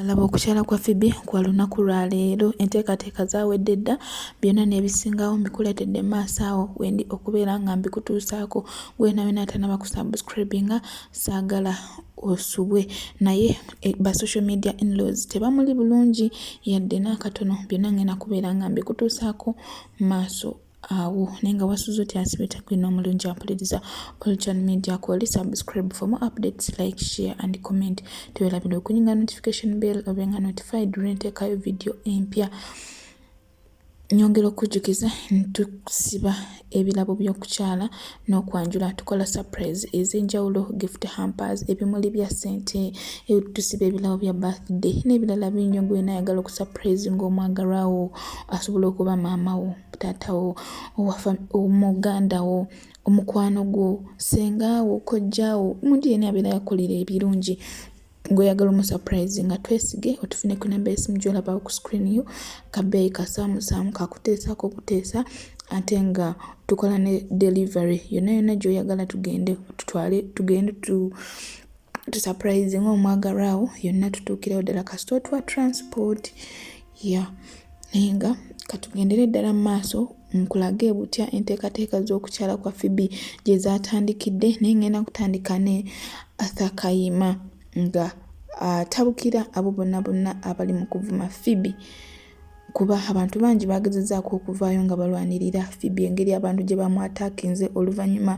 Alaba okukyala kwa Phoebe kwa lunaku lwa leero enteekateeka zaawedde dda byonna n'ebisingawo mbikuleetedde maaso awo wendi okubeera nga mbikutuusaako gwena wena atanaba ku subscribinga saagala osubwe naye e, ba social media inlaws tebamuli bulungi yadde n'akatono byonna ngenda kubeera nga mbikutuusaako maaso awo naye nga wasuze oti asibe takwina omulungi ampuliriza olchan media koli subscribe for more updates like share and comment tewelabira okunyinga notification bell obenga notified lwentekayo video empya nyongera okujjukiza ntusiba ebirabo by'okukyala n'okwanjula tukola surprise ez'enjawulo gift hampers ebimuli bya ssente tusiba ebirabo bya birthday n'ebirala bingi ogwena ayagala okusurprise ng'omwagalwa wo asobola okuba maama wo taata wo omuganda wo omukwano gwo senga wo kojja wo omuntu yena abeera yakolera ebirungi ng'oyagala omusapurayizi nga twesige otufune ku namba esimu gyolabawo ku screen yo kabeeyi kasaamusaamu kakuteesaako okuteesa ate nga tukola ne delivery yonna yonna gy'oyagala tugende tutwale tugende tu tusapurayizi ngaomwagalwawo yonna tutuukirawo ddala kasita otuwa transport ya naye nga katugendere ddala mu maaso nkulage butya enteekateeka z'okukyala kwa fibi gye zaatandikidde naye ngenda kutandika ne athakayima nga atabukira abo bonna bonna abali mu kuvuma fibi kuba abantu bangi bagezezaako okuvaayo nga balwanirira fibi engeri abantu gye bamwataakinze oluvannyuma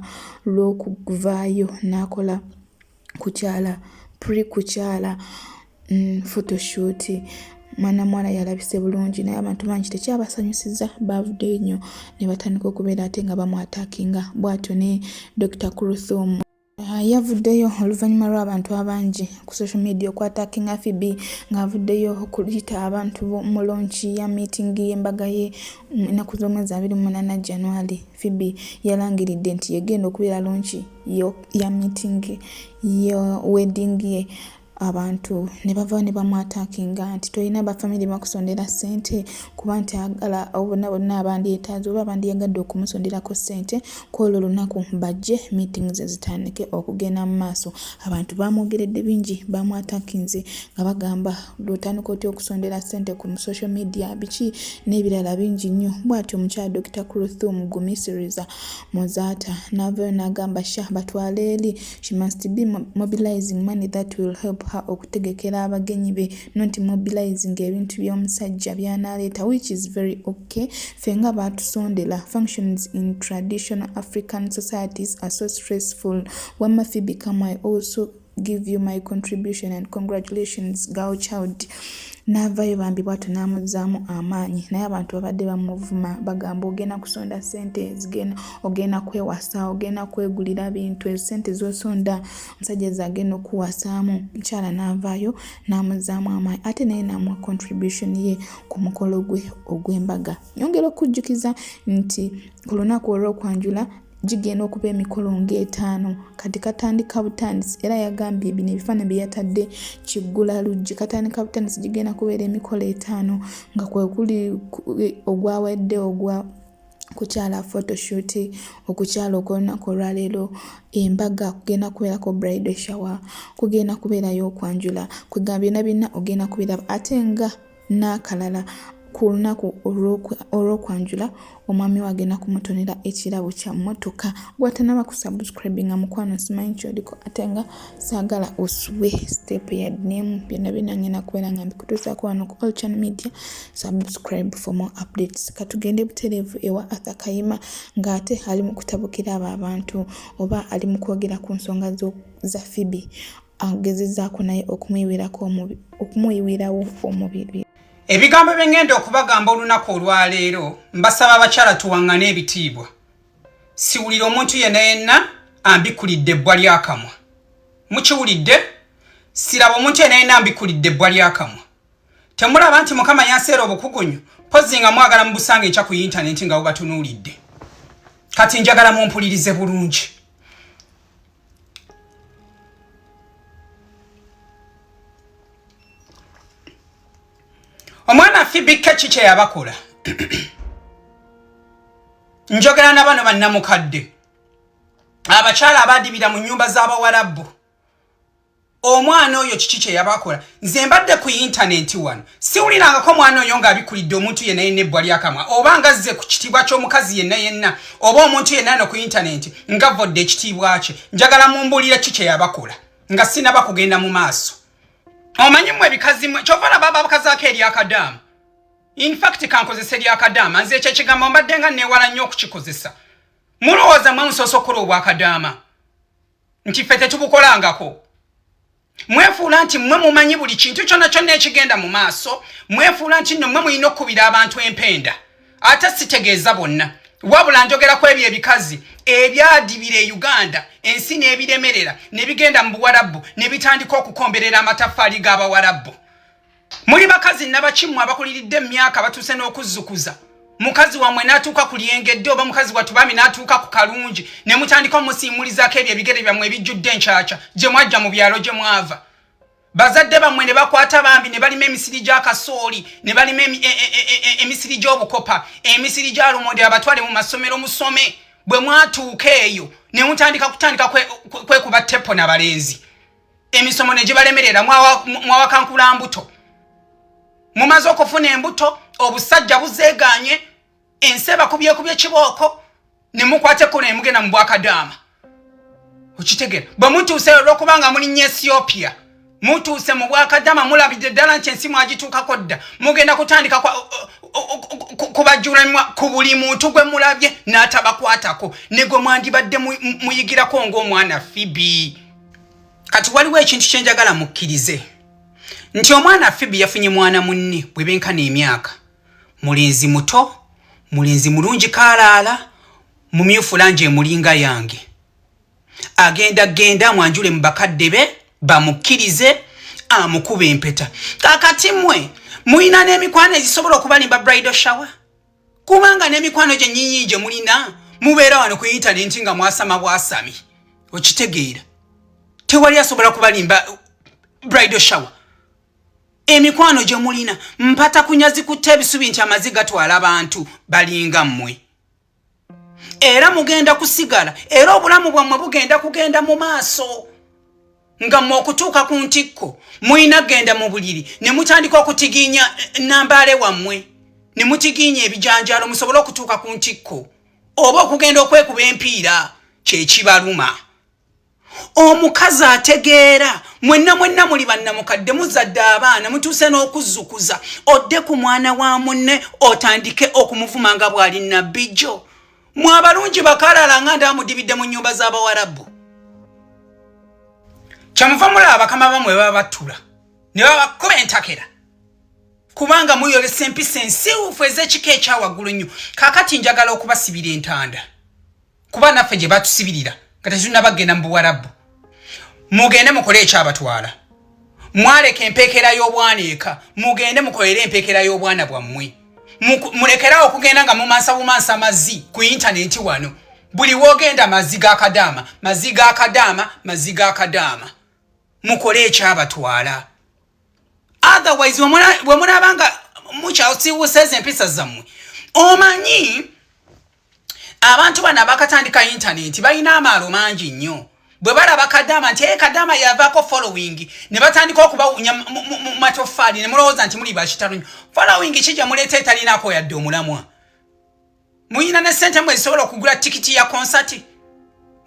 lw'okuvaayo n'akola kukyala pre kukyala mm, photoshoot mwana mwana yalabise bulungi naye abantu bangi tekyabasanyusiza bavuddeyo nnyo ne batandika okubeera ate nga bamwatakinga bwatyo ne dr cruthum ah, yavuddeyo oluvannyuma lw'abantu abangi ku social media okwatakinga fb ng'avuddeyo okuyita abantu mu lonki ya meeting y'embaga ye mm, ennaku z'omwezi abiri mu munaana january Phoebe yalangiridde nti yegenda okubeera lonki ya meeting ya wedding ye abantu ne bava ne bamwatakinga nti tolina bafamire bakusondera ssente kuba nti agala obona bonna abandyetaaza oba abandiyagadde okumusonderako ssente kwolwo olunaku bajje meeting ze zitandike okugenda mu maaso abantu bamwogeredde bingi bamwatakinze nga bagamba lwotandika otya okusondera sente ku social media biki n'ebirala bingi nnyo bwatyo omukyala dr cruthum gumisiriza muzaata n'avayo n'agamba sha batwala eri she must be mobilizing money that will help her okutegekera abagenyi be not mobilizing ebintu by'omusajja byanaaleeta which is very okay fe nga baatusondera functions in traditional african societies are so stressful wamma phoebe kamai also give you my contribution and congratulations girl child naavayo bambi bwatyo n'amuzzaamu amaanyi naye abantu babadde bamuvuma bagamba ogenda kusonda sente zigenda ogenda kwewasa ogenda kwegulira bintu ezo sente zosonda musajja zagenda okuwasaamu mukyala naavaayo n'amuzzaamu amaanyi ate naye namuwa contribution ye ku mukolo gwe ogw'embaga nyongera okujjukiza nti ku lunaku olw'okwanjula gigenda okuba emikolo ng'etaano kati katandika butandisi era yagambye bino ebifaananyi bye yatadde kiggula luggi katandika butandisi gigenda kubeera emikolo etaano nga kwe kuli ogwawedde ogwa kukyala photoshoot okukyala okwolunaku olwaleero embaga kugenda kubeerako bride shower kugenda kubeerayo okwanjula kwegamba byona byonna ogenda kubeera ate nga n'akalala ku lunaku olw'okwanjula omwami wange nakumutonera ekirabo kya mmotoka gwatanaba ku subscribe nga mukwano simanyi kyoliko ate nga saagala osubwe step yadnemu byonna byonna ngenda kubeera nga mbikutuusaako wano ku all channel media subscribe for more updates katugende butereevu ewa arthur kayima ng'ate ali mu kutabukira abo abantu oba ali mu kwogera ku nsonga za fibi agezezaako naye okumuyiwirawo omubiri ebigambo bye ngenda okubagamba olunaku olwaleero mbasaba abakyala tuwaŋŋane ebitiibwa siwulira omuntu yenna yenna ambikulidde ebbwa lyakamwa mukiwulidde siraba omuntu yenna yenna ambikulidde ebbwa lyakamwa temulaba nti mukama yanseera obukugunyu pozi nga mwagala mubusanga enkya ku yintaneti nga bubatunuulidde kati njagala mumpulirize bulungi omwana afibikka ki kyeyabakola njogera na bano bannamukadde abakyala abadibira mu nyumba z'abawarabu omwana oyo kiki kyeyabakola nze mbadde ku yintanenti wano siwulirangako omwana oyo ng'abikulidde omuntu yenna yenna ebbwa lyakamwa oba nga zze ku kitiibwa ky'omukazi yenna yenna oba omuntu yenna no ku yintanenti nga vodde ekitiibwa kye njagala mumbuulira ki kyeyabakola nga sinaba kugenda mu maaso omanyi mwe ebikazi mwe kyova laba babakazaako eryakadaama infact kankozesa eryakadaama nze ekyo ekigambo mbadde nga neewala nnyo okukikozesa mulowooza mwe musoose okukola obwakadaama nti ffe tetubukolangako mwefuula nti mmwe mumanyi buli kintu kyonna kyonna ekigenda mu maaso mwefuula nti nno mmwe mulina okukubira abantu empenda ate sitegeeza bonna wabula njogera ku ebyo ebikazi ebyadibira e uganda ensi n'ebiremerera ne bigenda mu buwarabu ne bitandika okukomberera amataffaali g'abawarabbu muli bakazi nabaki mmwe abakuliridde emyaka batuuse n'okuzzukuza mukazi wamwe natuuka ku lyengedde oba mukazi wattu bami natuuka ku kalungi ne mutandika omusiimulizaako ebyo ebigere byammwe ebijjudde enkyakya gye mwajja mu byalo gye mwava bazadde bammwe ne bakwata bambi ne balima emisiri gya kasooli ne balima e, e, e, emisiri gy'obukopa emisiri gya lumonde abatwale mu masomero musome bwe mwatuuka eyo ne mutandika kutandika kwekuba tepo na balenzi emisomo ne gibalemerera mwawakankula mbuto mumaze okufuna embuto obusajja buzeeganye ensi ebakubyekubya ekibooko ne mukwata ekkono ne mugenda mu bwakadaama okitegera bwe mutuuse olwokuba nga mulinnya ethiopia mutuuse mu bwakadama mulabidde ddala nti ensi mwagituukako dda mugenda kutandika kubajjulanwa ku buli muntu gwe mulabye n'atabakwatako ne gwe mwandibadde muyigirako ng'omwana fibi kati waliwo ekintu kyenjagala mukkirize nti omwana fibi yafunye mwana munne bwe benkana emyaka mulenzi muto mulenzi mulungi kaalaala mumyufu langi emulinga yange agenda genda amwanjule mu bakadde be bamukkirize amukuba empeta kakati mwe mulina n'emikwano ezisobola okubalimba brido shower kubanga n'emikwano gyennyinyi gye mulina mubeera wano ku intanenti nga mwasama bwasami okitegeera tewali asobola kubalimba bridal shower emikwano gye mulina mpata kunyazi kutta ebisubi nti amazi gatwala abantu balinga mmwe era mugenda kusigala era obulamu bwammwe bugenda kugenda mu maaso nga mwe okutuuka ku ntikko mulina genda mu buliri ne mutandika okutigiinya eh, nambaale wammwe ne mutigiinya ebijanjaalo musobole okutuuka ku ntikko oba okugenda okwekuba empiira kyekibaluma omukazi ategeera mwenna mwenna muli bannamukadde muzadde abaana mutuuse n'okuzzukuza odde ku mwana wa munne otandike okumuvuma nga bw'ali nabbi jjo mwe abalungi bakalala nga ndamudibidde mu nyumba z'abawarabu kyamuva mulaba abakama bamwe baba battula ne babakuba entakera kubanga muyolesa empisa ensiwufu ez'ekika ekyawaggulu nnyo kakati njagala okubasibira entanda kuba naffe gye batusibirira nga tetunabagenda mu buwarabu mugende mukole ekyabatwala mwaleka empeekera y'obwana eka mugende mukolere empeekera y'obwana bwammwe mulekerawo okugenda nga mumansa bumansa mazzi ku intaneti wano buli wogenda mazzi ga kadaama mazzi ga kadaama mazzi ga kadaama mukole ekyabatwala otherwise bwe mulaaba nga mukyasiwusa ezo empisa zammwe omanyi abantu bano abakatandika intaneti balina amaalo mangi nnyo bwe balaba kadama nti e kadama yavaako following ne batandika okubawunya mu matoffaali ne mulowooza nti muli bakitalunyo following ki gye muleeta etalinaako yadde omulamwa muyina ne ssente mwe zisobola okugula tikiti ya konsati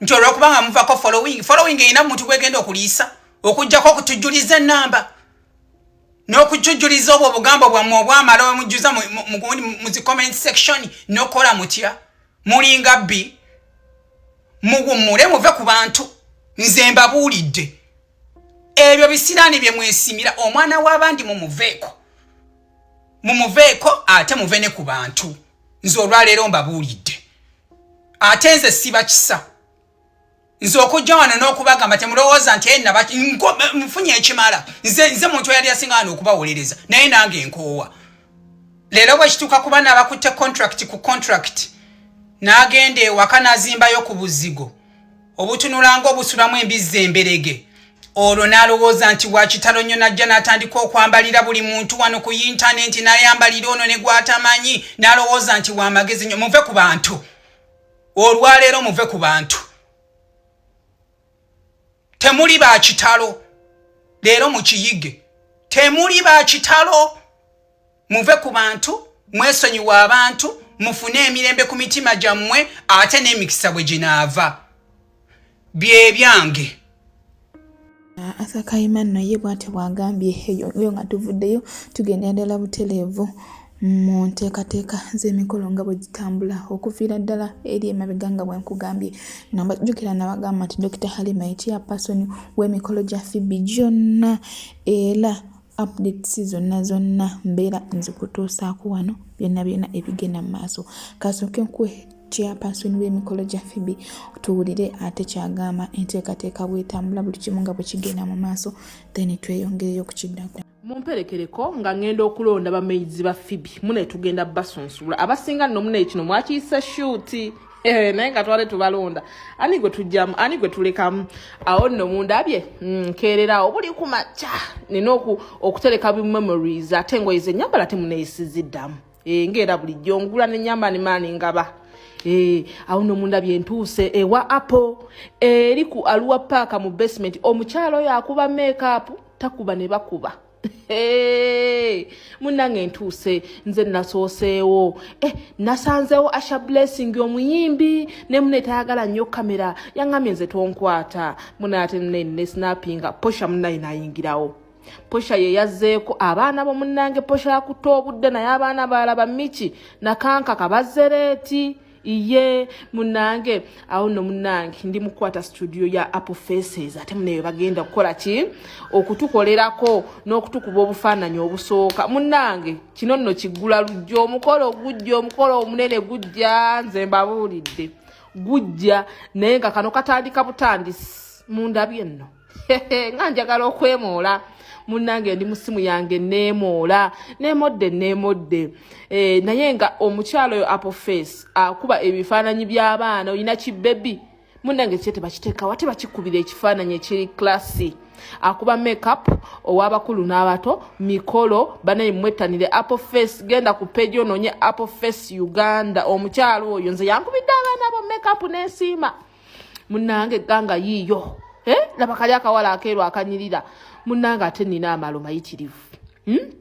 nti olwokuba nga muvako following following erina muntu gwegenda okuliisa okujjako okutujjuliza enamba n'okujjujuliza obwo obugambo bwammwe obwamala bamujjuza mu zi comment section nokukola mutya mulinga bbi muwummule muve ku bantu nze mbabuulidde ebyo bisiraani bye mwesimira omwana w'abandi mumuveeko mumuveeko ate muve ne ku bantu nze olwaleero mbabuulidde ate nze siba kisa nze okujja wano n'okubagamba temulowooza nti enaba nfunye ekimala nze nze muntu eyali asinga wano okubawolereza naye nange nkoowa leero bwekituuka kuba nabakutte contract ku contract n'agenda ewaka n'azimbayo ku buzigo obutunulanga obusulamu embizzi emberege olwo n'alowooza nti wakitalo nnyo najja n'atandika okwambalira buli muntu wano ku yintanenti n'ayambalira ono ne gwatamanyi n'alowooza nti wamagezi nnyo muve ku bantu olwaleero muve ku bantu temuli ba kitalo leero mukiyige temuli ba kitalo muve ku bantu mwesonyiwa abantu mufune emirembe ku mitima gyammwe ate n'emikisa bwe ginaava byebyange ah, asakayima nno ye bwati bwagambye eyo nga tuvuddeyo tugenda endala buteleevu mu nteekateeka z'emikolo nga bwe gitambula okuviira ddala eri emabega nga bwe nkugambye nabajjukira nabagamba nti dokita halima ekyapasoni w'emikolo gya fibi gyonna era updates zonna zonna mbeera nzikutuusaako wano byonna byonna ebigenda mu maaso kasooke nkuwe chairperson w'emikolo gya fibi tuwulire ate kyagamba enteekateeka bwetambula buli kimu nga bwe kigenda mu maaso then tweyongereyo okukiddako mumperekereko nga ngenda okulonda bamaizi ba fibi mune tugenda basunsuula abasinga nno mune kino mwakiyisa shuuti Eh, naye nga twale tubalonda ani gwe tujjamu ani gwe tulekamu awo nno mundabye mm, nkeererawo buli ku makya nina okutereka bi memories ate engoye zenyambala temuneyisiziddamu eh, ngaera bulijjo ngula nenyamba nimaani ngaba eh, awo nno mundabye ntuuse ewa apple eri ku aluwa paaka mu basement omukyalo oyo akuba makeup takuba ne bakuba Hey, munange ntuuse nze nasooseewo eh, nasanzeewo asha blessing omuyimbi ne mune tayagala nnyo kamera yaŋamye nze tonkwata mune ate nene snapinga posha munaye nayingirawo posha ye yazzeeko abaana bo munange posha yakutte obudde naye abaana baalaba miki nakanka kabazereeti iye munange awo no munange ndi mukwata studio ya apple faces ate muneyo bagenda kukola ki okutukolerako n'okutukuba obufaananyi obusooka munange kino nno kiggula lujja omukolo gujja omukolo omunene gujja nze mbabuulidde gujja naye nga kano katandika butandisi mundabye nno nga njagala okwemoola munange ndi musimu yange nemoola nemodde nemodde eh, naye nga omukyalo oyo apple face akuba ebifaananyi by'abaana olina kibebi munange kye tebakiteekawa tebakikubira ekifaananyi ekiri klassi akuba makeup ow'abakulu n'abato mikolo banaye mwettanire apple face genda ku peji onoonye apple face uganda omukyalo oyo nze yankubidde abaana bo makeup n'esiima munange ganga yiiyo eh? laba kali akawala akeeru akanyirira munange ate nina amalo mayitirivu hmm?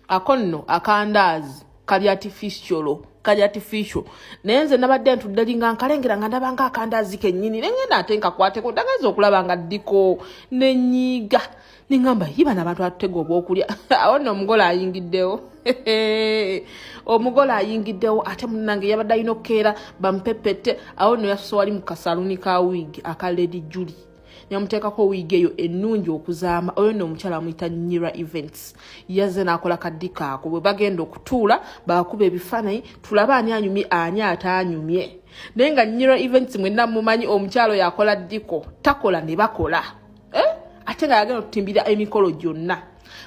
ako nno akandaazi kali atifisyolo kali atificio naye nze nabadde ntudde linga nkalengera nga ndabanga akandaazi kennyini nengenda ate nkakwateko ndagaiza okulaba nga ddiko nenyiiga nengamba yi bano abantu atutega obwokulya awo nno omugole ayingiddewo omugole ayingiddewo ate munange yabadde alina okukeera bamupepette awo nno yasuse wali mu kasaluni ka wiigi aka lady juli nemuteekako wiigi eyo ennungi okuzaama oyo nno omukyala amuyita nyira events yazze n'akola kaddikaako bwe bagenda okutuula baakuba ebifaananyi tulaba ani anyumye ani ataanyumye naye nga nyira events mwenna mumanyi omukyalo yakola ddiko takola ne bakola eh? ate nga yagenda otutimbira emikolo gyonna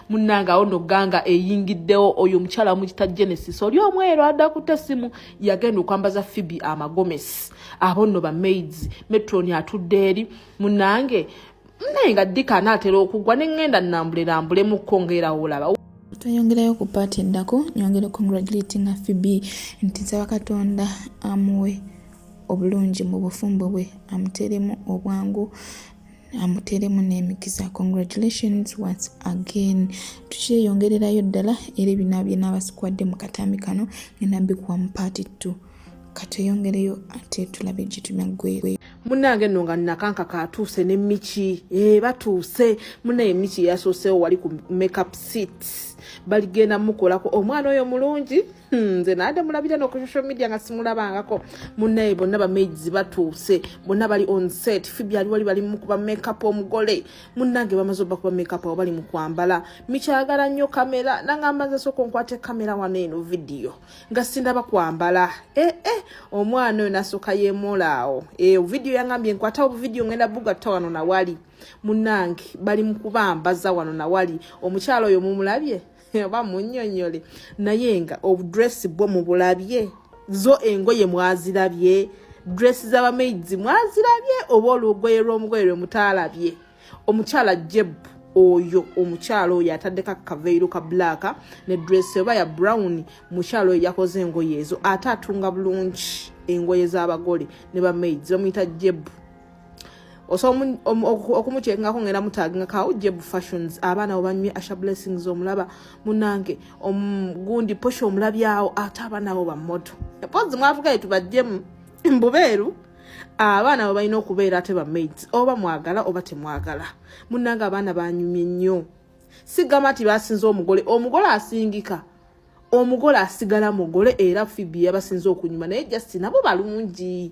munange awo no ganga eyingiddewo oyo omukyala mukita genesis oli omweero adda kuta essimu yagenda okwambaza fibi amagomesi abo nno bamaids metroni atudde eri munange naye nga dika anaatera okugwa ne ŋŋenda nnambulerambulemuko ngaerawo olaba tweyongerayo ku paati eddako nyongere congratulatinga fibi nti nsaba katonda amuwe obulungi mu bufumbo bwe amuteremu obwangu amuteremu n'emikisa congratulations once again tukyeyongererayo ddala era ebina byenaabasikwade mu katambi kano ngenda bikuwa mu party t kateyongereyo ate tulabe gyetumya gwegwe munange no nga nakanka katuuse ne miki e eh, batuuse munaye miki yasoosewo wali ku makeup seats baligenda mukolako omwana oyo mulungi Hmm, nze nade mulabira no ku social media nga simulabangako munaye bonna bamaids batuuse bonna bali on set fibi ali wali bali mukuba makeup omugole munange bamaze oba kuba makeup awo bali mukwambala mikyagala nnyo kamera nangamba nze soka onkwate kamera wano eno vidiyo nga sindaba kwambala ee eh, eh, omwana oyo nasoka yemolaawo e eh, vidiyo yangambye nkwatawo buvidiyo ngenda bugatta wano nawali munange bali mukubambaza wano nawali omukyalo oyo mumulabye oba munyonyole naye nga obudresi bwo mubulabye zo engoye mwazirabye dress z'abamaids mwazirabye oba olugoye lw'omugoye lwe mutaalabye omukyala jebu oyo omukyalo oyo ataddeko akaveiru ka black ne dress oba ya brown mukyalo oyo yakoze engoye ezo ate atunga bulungi engoye z'abagole ne bamaids bamuyita jebu osobola okumukyekingako ngenda mutaginga kawujje bu fashions abaana obanywe asha blessings omulaba munange gundi posha omulabyawo ate abaana abo bamoto pozi mwavugaye tubajjemu mbubeeru abaana abo balina okubeera ate bamaids oba mwagala oba temwagala munange abaana banyumye nnyo sigamba nti basinza omugole omugole asingika omugole asigala mugole era fibi yabasinza okunyuma naye just nabo balungi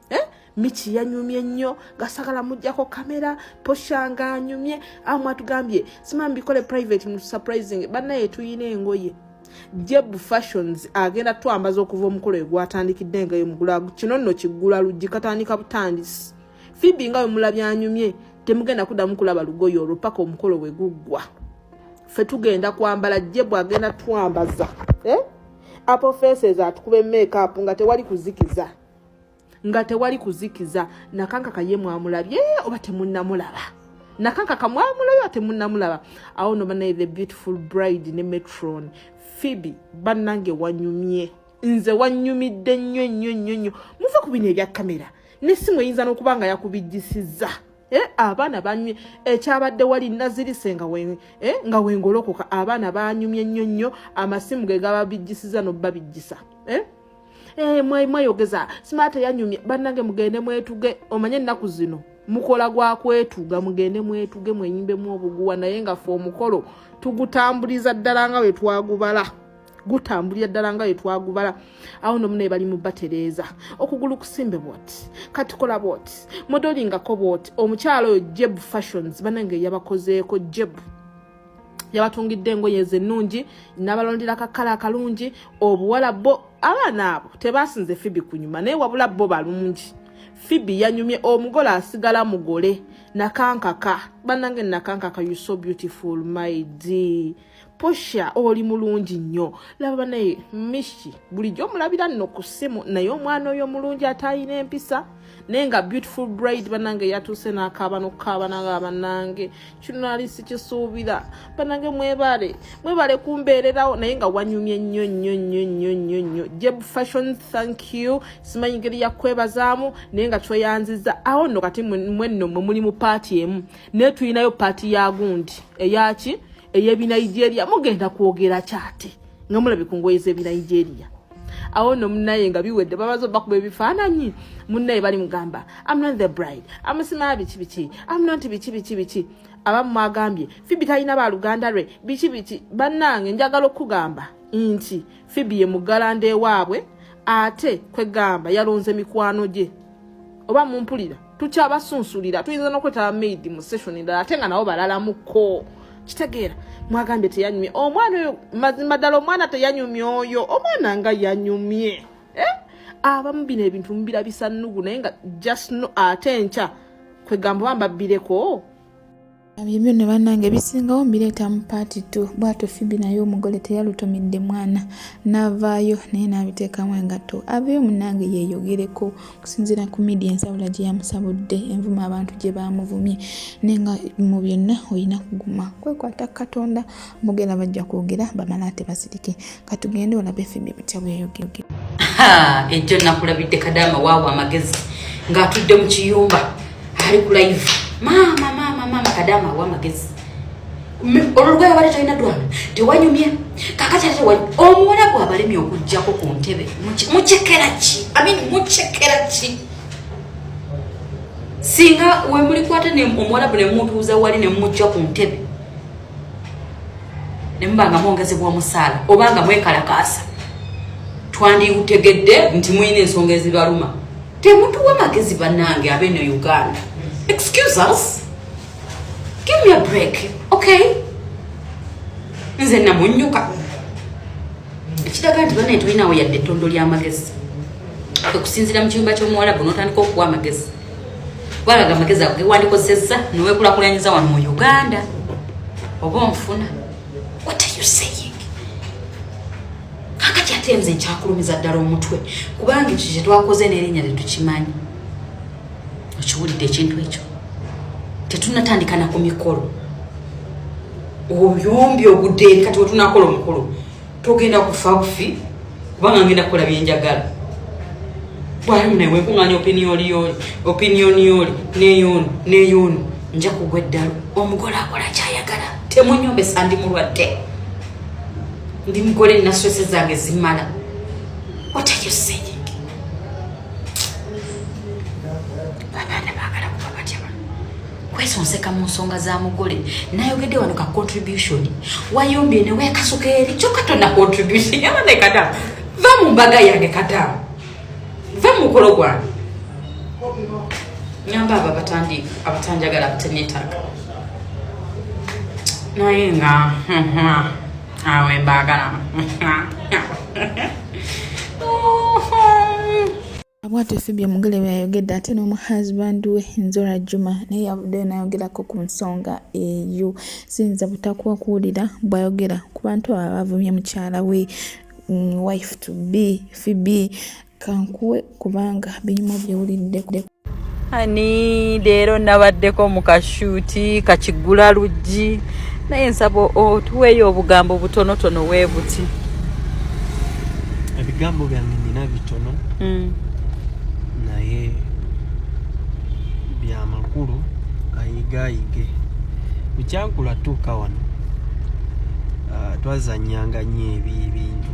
eh? miki yanyumye nnyo gasagala mujjako kamera posha nga anyumye amu atugambye simamu bikole private mu surprising banaye tuyina engoye jeb fashions agenda twambaza okuva omukolo egwatandikidde engayo mugula kino nno kiggula luggi katandika butandisi fibi nga wemula byanyumye temugenda kuddamu kulaba lugoyi olwo paka omukolo we guggwa fe tugenda kwambala jeb agenda twambaza eh? apofeses atukube makeup nga tewali kuzikiza nga tewali kuzikiza nakankaka ye mwamulabye oba temunamulaba nakankaka mwamulabye oba temunamulaba awo no banaye the beautiful bride ne metron phoebe bannange wanyumye nze wanyumidde nnyo nnyo nnyo nnyo muve ku bino ebya kamera nesimu eyinza n'okuba nga yakubijjisizza Eh, abaana banyumye ekyabadde eh, wali nazirise nga eh, wengolokoka abaana banyumye nnyo nnyo amasimu ge gababijjisiza nobabijjisa Hey, eh, mwe mweyogeza smart yanyumye banange mugende mwetuge omanye ennaku zino mukola gwa kwetuga mugende mwetuge mwenyimbemu obuguwa naye nga fe omukolo tugutambuliza ddala nga wetwagubala gutambulira ddala nga wetwagubala awo nomu naye bali mubatereeza okugulu kusimbe bwoti katukola bwoti modolingako bwoti omukyalo oyo jeb fashions banange yabakozeeko jebu yabatungidde engoye ze ennungi nabalondera kakala akalungi obuwala bo abaana abo tebasinze fibi kunyuma naye wabula bo balungi fibi yanyumye omugole asigala mugole nakankaka banange nakankaka you so beautiful my d posha oli mulungi nnyo laba banaye mishi bulijjo omulabira nno ku ssimu naye omwana oyo omulungi atayina empisa naye nga beautiful bride banange yatuuse nakaaba nokukaaba nanga banange kino nali sikisuubira banange mwebale mwebale kumbeererawo naye nga wanyumye nnyo nnyo nnyo nnyo nnyo nnyo jeb fashion thank you simanyi ngeri yakwebazaamu naye nga tweyanziza awo nno kati mwenno mwe muli mu paati emu naye tulinayo paati ya gundi eyaki eyebinigeria mugenda kwogera kyati nga mulabye ku ngoye zebinigeria awo no munaye nga biwedde babazo bakuba ebifaananyi munaye bali mugamba am not the bride amusimaa biki biki am not biki biki biki abamu mwagambye fibi talina baluganda lwe biki biki bannange njagala okukugamba nti fibi ye mugalanda ewaabwe ate kwegamba yalonze mikwano gye oba mumpulira tukyabasunsulira tuyinza nokwetaba maid mu session endala ate nga nabo balalamuko kitegeera mwagambye teyanyumye omwana oyo mazima ddala omwana teyanyumye oyo omwana nga yanyumye eh? abamu bino ebintu mubira bisannugu naye nga just no ate nkya kwegamba bambabireko Ebyo byonna bannange bisingawo mbireeta mu paati tu bwato fibi naye omugole teyalutumidde mwana n'avaayo naye n'abiteekamu engatto aveeyo munnange yeeyogereko okusinziira ku midia ensabula gye yamusabudde envuma abantu gye baamuvumye naye nga mu byonna olina kuguma kwekwata katonda mugenda bajja kwogera bamala ate basirike katugende olabe fimbi butya bweyogeoge ejjo nakulabidde kadaama waawo amagezi ng'atudde mu kiyumba ali ku live maama maama maama kadaama awa amagezi olulugaya wali talina dwana tewanyumye kakatyatewa omuwala gwabalemye okugjako ku ntebe mukyekera ki amin mukyekera ki singa wemulikwata omuwala bwe nemutuuza wali nemumujja ku ntebe ne muba nga mwongezebwa omusaala oba nga mwekalakaasa twandiutegedde nti mulina ensonga ezibaluma temutuwa magezi bannange abeno uganda excuse us give me a break okay nze namunyuka ekiraga nti banaye tulinawo yadde ettondo ly'amagezi okusinzira mu kiyumba ky'omuwalabu n'otandika okuwa amagezi gwalaga amagezi ago gewandikozesezza newekulakulanyiza wano mu uganda oba onfuna what are you saying kakati ate nze nkyakulumiza ddala omutwe kubanga ekyo kyetwakoze nerinnya tetukimanyi okiwulidde ekintu ekyo tetunatandikana ku mikolo oyombi ogudde eri kati wetunakola omukulu togenda kufa bufi kubanga ngenda kukola byenjagala bwalimu naye wenkunganya opiniyoni yoli opiniyoni yoli neyoni neyoni nja kugwa eddalu omugole akola kyayagala temunyombesa ndi mulwadde ndi mugole nasose zange zimala what are you saying kwesonseka mu nsonga za mugole nayogedde wano ka contribution wayombye ne wekasuka eri kyokka tonna contribution yaba ne kadamu va mu mbaga yange kadamu va mu mukolo gwange nyamba abo abatandi abatanjagala abatenetaaga naye nga awe mbaagala Abwate Phoebe Omugele bwe yayogedde ate n'omu husband we Nzora Juma naye yavuddeyo n'ayogerako ku nsonga eyo. Siyinza butakuwa kuwulira bw'ayogera ku bantu abo abavumye mukyala we mm, wife to be Phoebe kankuwe kubanga binyuma byewulidde ani leero nabaddeko mu kashuuti kakigula luggi naye nsaba otuweeyo obugambo butonotono weebuti ebigambo byange nina tono mm. naye byamakulu ayigayige bukyankula tuuka wano ah, twazanyanga nyo ebyo ebintu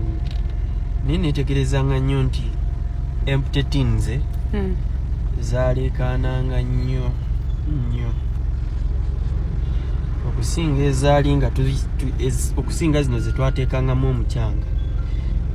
naye netegerezanga nnyo nti empty tins eh? mm. zaleekaananga nnyo nnyo okusinga ezaali nga okusinga zino zetwateekangamu omukyanga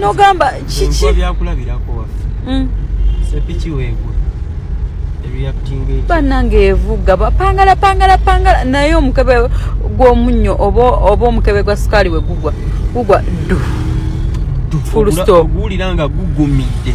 nogamba kiki byakulabirako waffe mm. sepiki wegwe banange evuga bapangala pangala pangala naye omukebe gwomunnyo oba omukebe gwa sukaali we gugwa gugwa du full stop guwulira nga gugumidde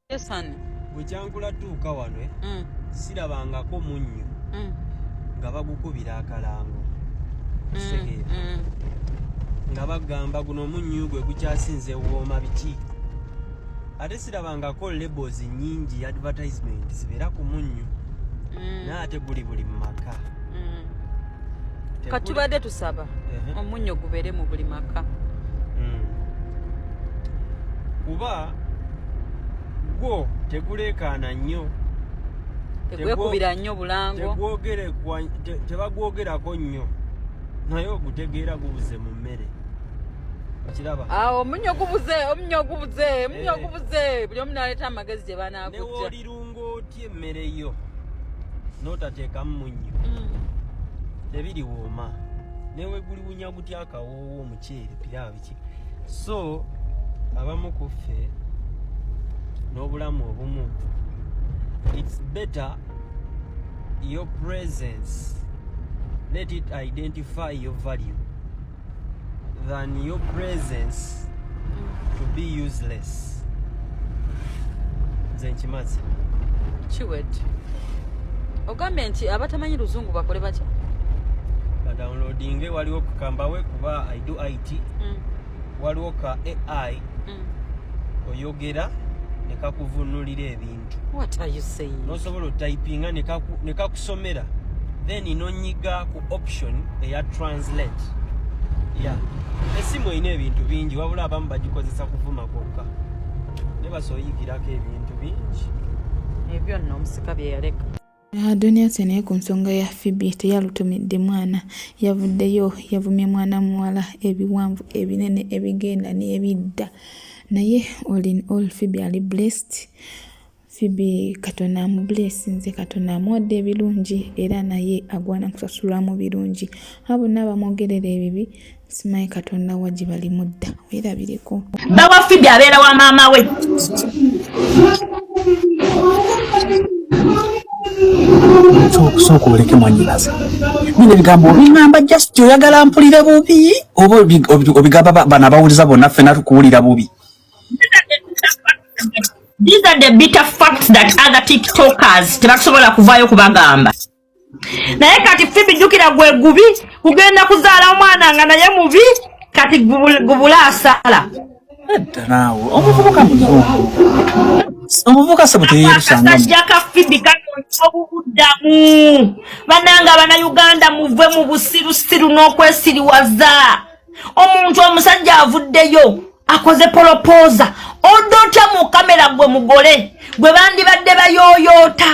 bwe kyankula tuuka wano eh, mm. sirabangako munnyo mm. nga bagukubira akalango mm, nga bagamba guno munnyo gwe gukyasinze wooma biki ate sirabangako labels nyingi advertisement zibeera ku munnyo naye ate guli buli mu maka katubadde tusaba omunnyo gubeere mu buli maka kuba gwo teguleekaana nnyo tegwekubira nnyo bulango tebagwogerako nnyo naye ogutegeera gubuze mu mmere okiraba awo omunyo gubuze omunyo gubuze omunyo eh. gubuze buli omu naleeta amagezi gye banaakujja newoolirunga otya emmere yo n'otateekamu munnyo mm. tebiriwooma neweguliwunya gutya akawoowo omuceere piraabi so abamu ku ffe n'obulamu obumu it's better your presence let it identify your value than your presence to be useless nze nkimazi kiwet ogambye nti abatamanyi luzungu bakole batya badownloadinge waliwo kukambawe kuba it mm. waliwo ka ai mm. oyogera nekakuvunulira ebintu nosobola otypinga nekakusomera then nonyiga ku option eya translate ya esimu erina ebintu bingi wabula abamu bagikozesa kuvuma kwokka nebasoyigirako ebintu bingi ebyo nno omusika byeyaleka Adonia Ase naye ku nsonga ya Phoebe teyalutumidde mwana, yavuddeyo yavumye mwana muwala ebiwanvu ebinene ebigenda n'ebidda naye all in all Phoebe ali blessed. Phoebe Katonda amubuleesinze, Katonda amuwadde ebirungi era naye agwana kusasulwamu birungi. Abo bonna abamwogerera ebibi simanyi katonda wa gye balimu dda weerabireko bawafibi abeera wa maama we okusooka oleke mwanyinaze bino ebigambo obiŋamba just oyagala mpulire bubi oba obigamba bana abawuliza bonna ffena tukuwulira bubi These are the bitter facts that other TikTokers tebasobola kuvaayo kubagamba. naye kati fibi jukira gwe gubi kugenda kuzaala omwana nga naye mubi kati gubula asala naawe omuvubuka muzungu omuvubuka sebo teyeyerusangaakasajja ka fibi kanonya obubuddamu bananga abana uganda muve mu busirusiru n'okwesiriwaza omuntu omusajja avuddeyo akoze polopoza odotya mu kamera gwe mugole gwe bandibadde bayoyoota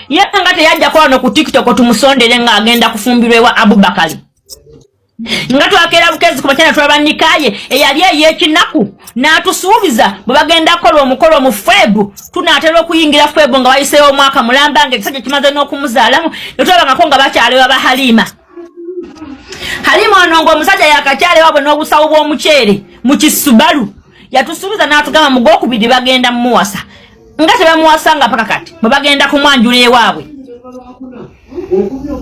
ye nga teyajjako wano ku tiktok tumusondere nga agenda kufumbirwa ewa abubakali nga twakeera bukezi kubakyana tulaba nikaye eyali eyekinaku n'atusuubiza bwe bagenda kukola omukolo mu febu tunaatera okuyingira febu nga wayiseewo omwaka mulamba nga ekisajja kimaze n'okumuzaalamu netulabangako nga bakyalewa ba halima halima ono nga omusajja yakakyalewabwe n'obusawo bw'omuceere mu kisubalu yatusuubiza n'atugamba mugwokubiri bagenda mumuwasa nga tebamuwasanga mpaka kati bwe bagenda kumwanjula ewaabwe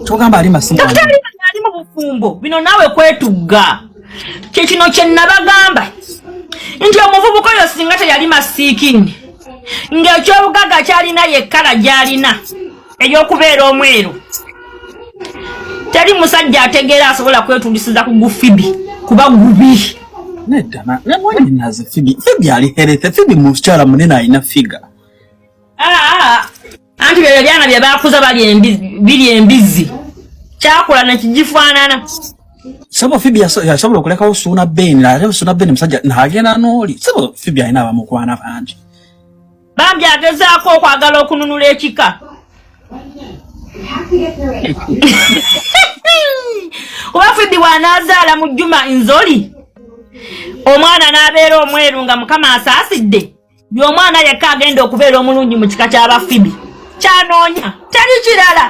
kyogamba ali masimu ali mu bufumbo bino naawe kwetugga kyekino kye nabagamba nti omuvubuka oyo singa teyali masiikini ng'ekyobugagga kyalina yekkala gy'alina eyokubeera omweru teri musajja ategeera asobola kwetundisiza ku gufibi kuba gubi mukyala munene alina figa anti byoyo byana bye bakuza biri embizzi kyakula nekigifaanana sebo fibi yasobola okulekawo suuna beni ate suuna beni musajja nagenda nooli sebo fibi alina abamukwana bangi bambi agezaako okwagala okununula ekika oba fidi wanaazaala mu juma nzoli omwana n'abeera omweru nga mukama asaasidde y'omwana yekka agenda okubeera omulungi mu kika ky'abafibi kyanoonya teri kirala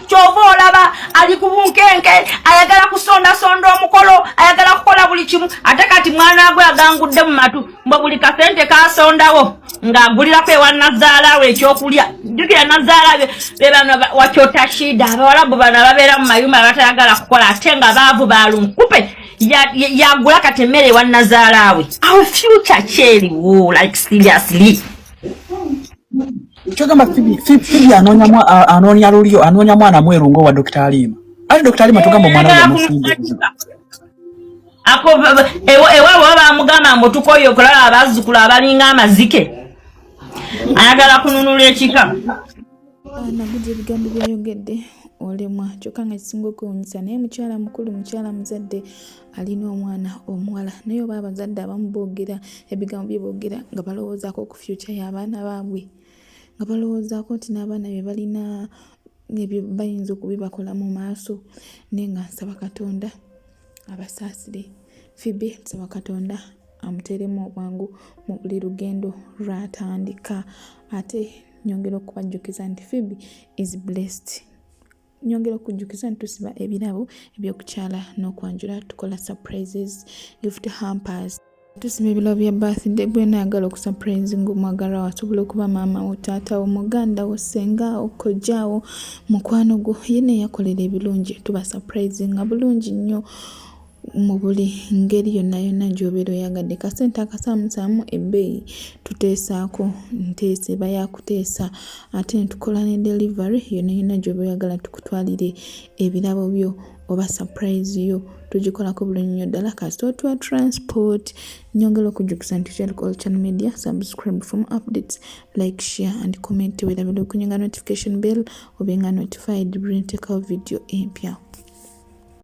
kyova olaba ali ku bunkenke ayagala kusondasonda omukolo ayagala kukola buli kimu ate kati mwana gwe agangudde mu matu mbo buli kasente kasondawo ng'agulirako ewa nazaala we ekyokulya jjukira nazaala be bano wakyota shida abawalabu bano ababeera mu mayumba abatayagala kukola ate nga baavu balunkupe yagula kati emmere ewa nazaala we awo future kyeriwo like seriously kyogamba fibi anoonya lulyo anoonya mwana mweru ngaowa dokita aliima ate dokita aliima tugamba omwana we yamusinga ako ewaabo baba bamugamba mbu tukoye okulaba abazzukulu abalinga amazike ayagala kununula ekika nagudi ebigambo byayogedde olemwa kyokka nga kisinga okwewunyisa naye mukyala mukulu mukyala muzadde alina omwana omuwala naye oba abazadde abamu boogera ebigambo bye boogera nga balowoozaako ku fyuca y'abaana baabwe nga balowoozaako nti n'abaana bye balina ebyo bayinza okubibakola mu maaso naye nga nsaba katonda abasaasire fibi nsaba katonda amuteeremu obwangu mu buli lugendo lwatandika ate nyongera okubajjukiza nti fibi is blessed nyongera okujjukiza nti tusiba ebirabo ebyokukyala n'okwanjula tukola surprises gift hampers Tusiba ebirabo bya birthday gwe naagala okusapurayizi ng'omwagala wasobola okuba maama wo taata wo muganda wo ssenga wo kojja wo mukwano gwo yena eyakolera ebirungi tubasapurayizi nga bulungi nnyo mu buli ngeri yonna yonna gy'obeera oyagadde kasente akasaamusaamu ebbeeyi tuteesaako nteesa eba yakuteesa ate netukola ne delivery yonna yonna gy'oba oyagala tukutwalire ebirabo byo oba surprise yo tugikolako bulungi nnyo ddala kasita otuwa transport nyongera okujjukisa nti kyalikola channel media subscribe from updates like share and comment werabira okunyinga notification bell obenga notified buli ntekawo video empya